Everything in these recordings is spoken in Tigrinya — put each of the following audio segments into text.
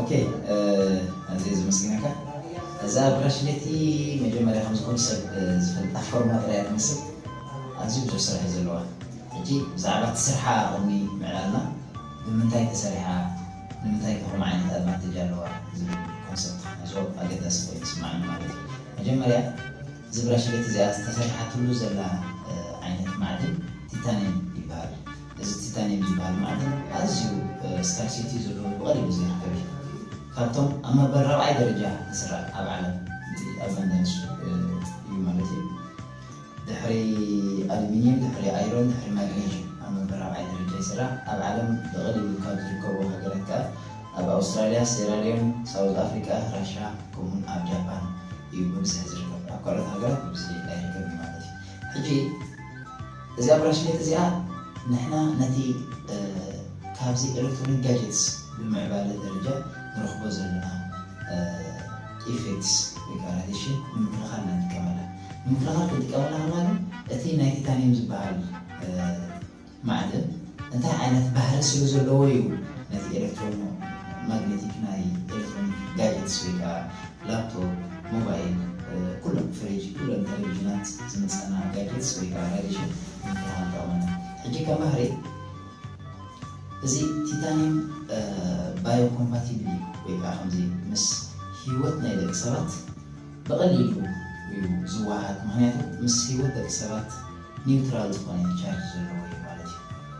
ኦኬ ኣዝየ ዘመስግነካ እዛ ብራሽሌቲ መጀመርያ ከም ዝኾኑ ሰብ ዝፈልጣ ፎርማ ጥራይ እያ ትመስል ኣዝዩ ብዙሕ ስራሕ እዩ ዘለዋ ሕጂ ብዛዕባ እቲ ስርሓ ቅድሚ ምዕላልና ብምንታይ ተሰሪሓ ንምንታይ ከ ከምኡ ዓይነት ኣድቫንቴጅ ኣለዋ ዝብል ኮንሰፕት ክንሕዞ ኣገዳሲ ኮይኑ ይስምዓኒ ማለት እዩ መጀመርያ እዚ ብራሽሌት እዚኣ ተሰሪሓትሉ ዘላ ዓይነት ማዕድን ቲታንየም ይበሃል። እዚ ቲታንየም ዝበሃል ማዕድን ኣዝዩ ስካርሲቲ ዘለዎ ብቐሊሉ ዘይርከብ እዩ። ካብቶም ኣብ መበል ራብዓይ ደረጃ ዝስራዕ ኣብ ዓለም እቲ ኣዛንዳይንስ እዩ ማለት እዩ። ድሕሪ ኣሉሚንየም፣ ድሕሪ ኣይሮን፣ ድሕሪ ማግኔዥየም ኣብ መበል ራብዓይ ደረጃ ይስራዕ። ኣብ ዓለም ብቐሊሉ ካብ ዝርከቡ ሃገራት ከኣ ኣብ ኣውስትራልያ፣ ሴራልዮን፣ ሳውዝ ኣፍሪቃ፣ ራሻ ከምኡ'ውን ኣብ ጃፓን እዩ ብብዝሒ ዝርከብ። ኣብ ካልኦት ሃገራት ብብዝሒ ኣይርከብን ማለት እዩ። ሕጂ። እዛ ብራሽሌት እዚኣ ንሕና ነቲ ካብዚ ኤለክትሮኒክ ጋጀትስ ብምዕባለ ደረጃ ንረኽቦ ዘለና ኢፌክትስ ወይ ከኣ ራዲሽን ንምክልኻል ኢና ንጥቀመላ። ንምክልኻል ክንጥቀመላ ከለና ግን እቲ ናይ ቲታንዩም ዝበሃል ማዕድን እንታይ ዓይነት ባህሪ ስለ ዘለዎ እዩ ነቲ ኤለክትሮማግኔቲክ ናይ ኤለክትሮኒክ ጋጀትስ ወይ ከኣ ላፕቶፕ፣ ሞባይል፣ ኩሎም ፍሪጅ፣ ኩለን ተለቪዥናት ዝምጸና ጋጀትስ ወይ ከኣ ራዲሽን ንምክልኻል ጠቕመና። ሕጂ ከም ባህሪ እዚ ቲታኒየም ባዮኮምፓቲብል እዩ ወይ ከኣ ከምዚ ምስ ህይወት ናይ ደቂ ሰባት ብቐሊሉ እዩ ዝወሃሃድ ምኽንያቱ ምስ ህይወት ደቂ ሰባት ኒውትራል ዝኾነ ቻርጅ ዘለዎ እዩ ማለት እዩ።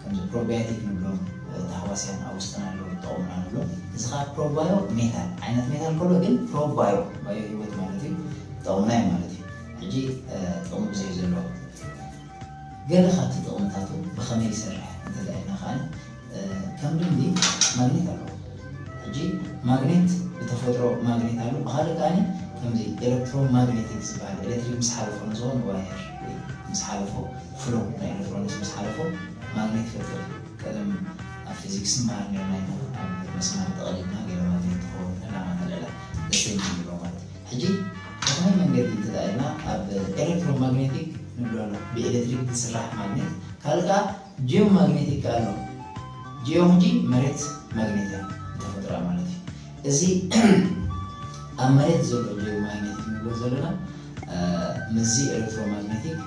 ከምዚ ፕሮብያቲክ ንብሎም ታህዋስያን ኣብ ውስጥና ኣለዉ ዝጠቕሙና ንብሎም እዚ ከኣ ፕሮባዮ ሜታል ዓይነት ሜታል ከሎ ግን ፕሮባዮ ባዮ ህይወት ማለት እዩ ዝጠቕሙና እዩ ማለት እዩ ሕጂ ጥቕሚ ብዘይ ዘለዎ ገለ ካብቲ ጥቕምታቱ ብኸመይ ይሰርሕ እንተልኣልና ከኣ ከም ልምዲ ማግኔት ኣለዎ ሕጂ ማግኔት ብተፈጥሮ ማግኔት ኣሎ ብካልእ ከኣ ከምዚ ኤሌክትሮማግኔቲክ ዝበሃል ኤሌክትሪክ ምስ ሓለፎ ንዝኾነ ዋየር ምስ ሓለፎ ፍሮም ናይ ኤለክትሮኒክስ ምስ ሓለፎ ማግኔት ይፈጥር እዩ ቀደም ኣብ ፊዚክስ ንመሃር ኔርና ኢና ኣብ መስማር ጠቅሊልና ገለ ማግኔት ንክከውን ዕላማ ተልዕላ ንስተይ ንብሉ ሎማት ሕጂ ብከመይ መንገዲ እንተድኣ ኢልና ኣብ ኤለክትሮ ማግኔቲክ ንብሎ ኣሎ ብኤለትሪክ ዝስራሕ ማግኔት ካልእ ከኣ ጂኦ ማግኔቲክ ኣሎ ጂኦ ሕጂ መሬት ማግኔት እያ ብተፈጥሮኣ ማለት እዩ እዚ ኣብ መሬት ዘሎ ጀዮማግነቲክ ንብሎ ዘለና ምስዚ ኤለክትሮማግነቲክ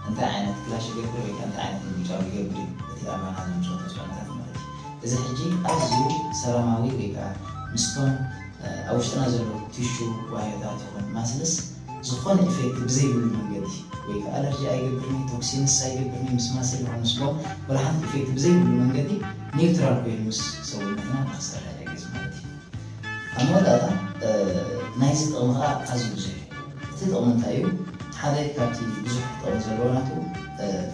እንታይ ዓይነት ክላሽ ይገብር ወይ እንታይ ዓይነት ምርጫው ይገብር እቲ ኣባና ዘምፅኦ ተፅዕኖታት ማለት እዩ እዚ ሕጂ ኣዝዩ ሰላማዊ ወይ ከዓ ምስቶም ኣብ ውሽጥና ዘሎ ቲሹ ዋህዮታት ይኹን ማስልስ ዝኾነ ኢፌክት ብዘይብሉ መንገዲ ወይ ከኣ ኣለርጂ ኣይገብርን'ዩ፣ ቶክሲንስ ኣይገብርን'ዩ፣ ምስማስ'የ ለኹ ምስጎ ወላ ሓንቲ ኢፌክት ብዘይብሉ መንገዲ ኒውትራል ኮይኑ ምስ ሰውነትና ንኽሰርሕ ይሕግዝ ማለት'ዩ። ኣብ መወዳእታ ናይዚ ጥቕሚ ከኣ ኣዝዩ ብዙሕ'ዩ። እቲ ጥቕሚ እንታይ'ዩ? ሓደ ካብቲ ብዙሕ ጥቕሚ ዘለዎ ናቱ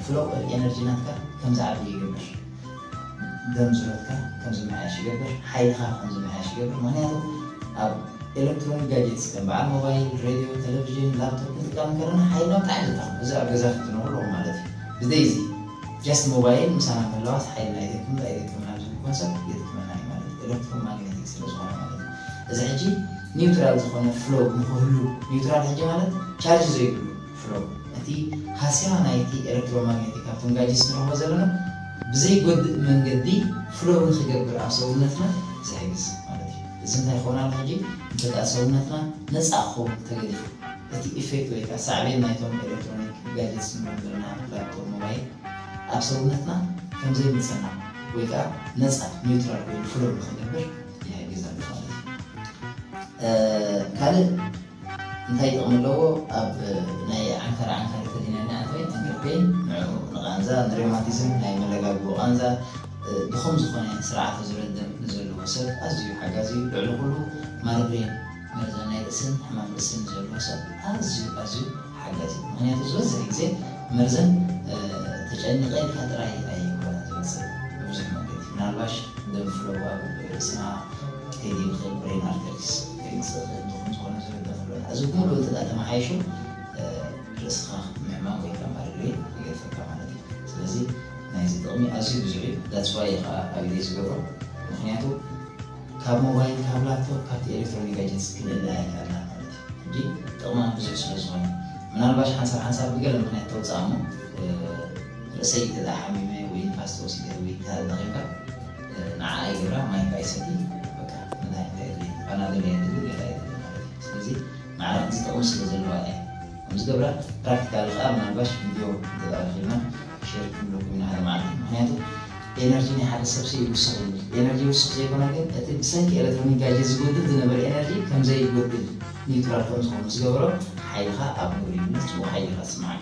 ፍሎው ኦፍ ኤነርጂ ናትካ ከም ዝዓቢ ይገብር። ደም ዝረትካ ከም ዝመሓየሽ ይገብር፣ ሓይልኻ ከም ዝመሓየሽ ይገብር፣ ምኽንያቱ ኣብ ኤለክትሮኒክ ጋጀትስ ከም በዓል ሞባይል፣ ሬድዮ፣ ተለቪዥን፣ ላፕቶፕ ክንጥቀም እንከለና ሓይልና ብጣዕሚ ዘታኽም፣ እዚ ኣብ ገዛ ክትነብሩ ኣለኩም ማለት እዩ። ብዘይዚ ጀስት ሞባይል ምሳና ምህላዋስ ሓይልና ይደክም ዶ ኣይደክምን ኣብ ዝብል ኮንሰፕት የድክመና እዩ ማለት እዩ፣ ኤለክትሮ ማግነቲክ ስለ ዝኾነ ማለት እዩ። እዚ ሕጂ ኒውትራል ዝኾነ ፍሎው ንኽህሉ፣ ኒውትራል ሕጂ ማለት ቻርጅ ዘይብሉ፣ ፍረው፣ ነቲ ሃስያ ናይቲ ኤለክትሮማግኔቲክ ኣብቶም ጋጅስ ንረኽቦ ዘለና ብዘይጎድእ መንገዲ ፍሎው ንኽገብር ኣብ ሰውነትና ዝሕግዝ ማለት እዩ። እዚ እንታይ ክኸውን ኣሎ ሕጂ እንተድኣ ሰውነትና ነጻ ክኸውን ተገዲፉ፣ እቲ ኢፌክት ወይ ከኣ ሳዕቤን ናይቶም ኤለክትሮኒክ ጋጀትስ ንብሎም ዘለና ላፕቶፕ፣ ሞባይል ኣብ ሰውነትና ከም ዘይምጸና ወይ ከኣ ነጻ፣ ኒውትራል፣ ኮይኑ ፍሎው ንኽገብር ይሕግዝ ኣሎ ማለት እዩ። ካልእ እንታይ ጥቕሚ ኣለዎ ኣብ ናይ ዓንካር ዓንካር ተሊና ንኣትወይ ንግርፔን ንዑ ንቓንዛ ንሬማቲዝም ናይ መለጋግቦ ቓንዛ ድኹም ዝኾነ ስርዓተ ዙረት ደም ንዘለዎ ሰብ ኣዝዩ ሓጋዚ እዩ ልዕሊ ኩሉ ማርግሬን መርዛን ናይ ርእስን ሕማም ርእስን ንዘለዎ ሰብ ኣዝዩ ኣዝዩ ሓጋዚ እዩ ምክንያቱ ዝበዝሕ ግዜ መርዘን ተጨኒቐ ኢልካ ጥራይ ኣይኮነን ዝመጽእ ብብዙሕ መንገዲ ምናልባሽ ደም ፍለው ኣብ ርእስና ከይዲ ይኽእል ብሬን ኣርተሪስ ዘይንጸበ እንተኹን ዝኾነ ዝርገም ኣሎ እዚ ኩሉ እንተ ተመሓይሹ ርእስኻ ምሕማቕ ወይ ከኣ ማለሊት ይገድፈካ ማለት እዩ ስለዚ ናይዚ ጥቕሚ ኣዝዩ ብዙሕ እዩ that's why እየ ከኣ ኣብ ኢደይ ዝገብሮ ምኽንያቱ ካብ ሞባይል ካብ ላፕቶፕ ካብቲ ኤሌክትሮኒክ ጋጀትስ ክንእለ ኣይከኣልና ማለት እዩ እንጂ ጥቕማ ብዙሕ ስለ ዝኾነ ምናልባሽ ሓንሳብ ሓንሳብ ብገለ ምኽንያት ተውጽኣ እሞ ርእሰይ እንተ ሓሚመ ወይ ንፋስ ተወሲደ ወይ እንተ ደኺምካ ንዓኣ ይገብራ ማይካ ይሰቲ በቃ እንታይ እንታይ የድልየኒ ፓናደል እያ ትብል ሌላ የድሊ ማለት እዩ ስለዚ ንዓና ክልተ ጥቅሚ ስለ ዘለዋ እያ ከም ዝገብራ ፕራክቲካሊ ከኣ ምናልባሽ ቪድዮ እንተ ረኪብና ሼር ክንብለኩም ኢና ሓደ መዓልቲ ምክንያቱ ኤነርጂ ናይ ሓደ ሰብሲ ይውስክ ይብል ኤነርጂ ይውስክ ዘይኮነ ግን እቲ ብሰንኪ ኤለትሮኒክ ጋጀት ዝጎድል ዝነበረ ኤነርጂ ከም ዘይጎድል ኒውትራል ከም ዝኮን ምስ ገበሮ ሓይልካ ኣብ ግብሪ ይምለስ ጽቡቅ ሓይሊ ኢካ ዝስምዓካ።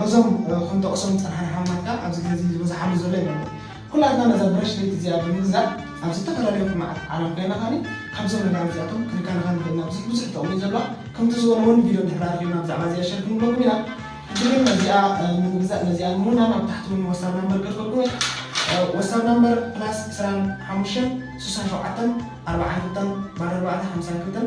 በዞም ክንጠቕሶም ዝጸናሕና ኣሕዋትና ከኣ ኣብዚ ግዜ እዚ ዝበዝሓሉ ዘሎ ይመስል። ኩላትና ነዛ ብራሽ ለይቲ እዚኣ ብምግዛእ ኣብ ዝተፈላለዩ ኩርናዓት ዓለም ኮይና ከኣ ካብዞም ነጋዶ እዚኣቶም ክንከናኸን ንኽእል ኢና። ብዙሕ ብዙሕ ጥቕሚ እዩ ዘለዋ። ከምቲ ዝበልዎ እውን ቪድዮ እንድሕር ኣርኺብና ብዛዕባ እዚኣ ሸር ክንብለኩም ኢና። ሕጂ ግን ነዚኣ ንምግዛእ ነዚኣ ንምውናን ኣብ ታሕቲ እውን ወሳብ ናምበር ገድፈልኩም እየ። ወሳብ ናምበር ፕላስ ዕስራን ሓሙሽተን ስሳን ሸውዓተን ኣርባዓን ክልተን ባዶ ኣርባዕተ ሓምሳን ክልተን